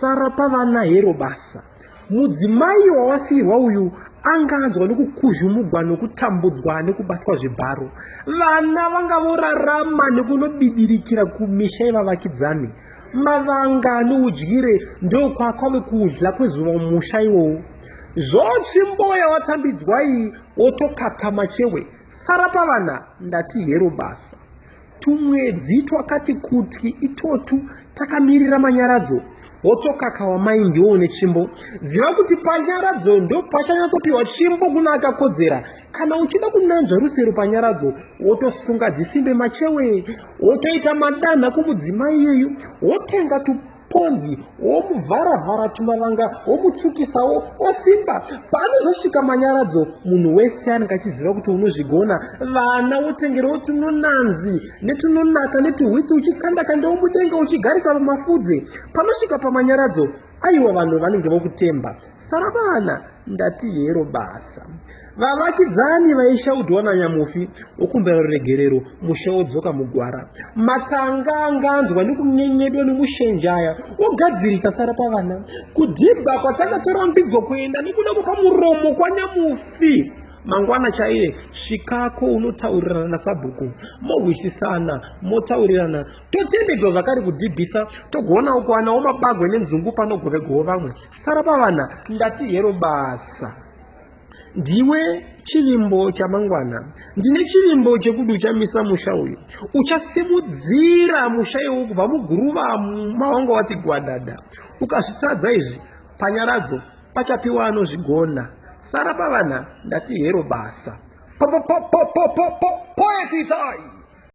Sara pavana hero basa. Mudzimai wawasiirwa uyu anga anzwa nekukuzhumugwa nokutambudzwa nekubatwa zvibharo. Vana vanga vorarama nekunobidirikira kumisha yevavakidzani. Mavanga noudyire ndokwakwave kudya kwezuva mumusha iwowo. Zvotsvi mboya watambidzwa iyi wotokakama chewe. Sara pavana ndati hero basa. Tumwedzi twakati kuti itotu takamirira manyaradzo wotokaka wamai ndiwo une chimbo ziva kuti panyaradzo ndo pachanyatsopiwa chimbo kuna akakodzera kana uchida kunanzva rusero panyaradzo wotosunga dzisimbe machewe wotoita madanha kumudzimai iyeyu wotenga tu ponzi womuvhara-vhara tumavanga womutsvukisawo osimba paanozosvika manyaradzo munhu wese anenge achiziva kuti unozvigona vana wotengerewo tunonanzi netunonaka netuhwitsi uchikandakanda womudenga uchigarisa pamafudze panosvika pamanyaradzo aiwa vanhu vanenge vokutemba sara vana Ndati hero basa. Vavakidzani vaishaudwa nanyamufi wokumbira ruregerero musha wodzoka mugwara. Matanga anganzwa nekunyenyedwa nemushenjaya wogadzirisa sara pavana. Kudhibha kwatanga torambidzwa kuenda nekuda kwepamuromo kwanyamufi mangwana chaiye svikako unotaurirana nasabhuku mohwisisana motaurirana totendedzwa zvakare kudhibhisa togoonawo kuwanawo mabagwe nenzungu panogovegoo vamwe Sara pavana ndati hero basa. Ndiwe chivimbo chamangwana. Ndine chivimbo chekuti uchamisa musha uyu. Uchasimudzira musha iwu kubva muguruva mawanga wati gwadada. Ukazvitadza izvi panyaradzo pachapiwa anozvigona. Sara pavana ndati hero basa. Po po po po po po po poetitai.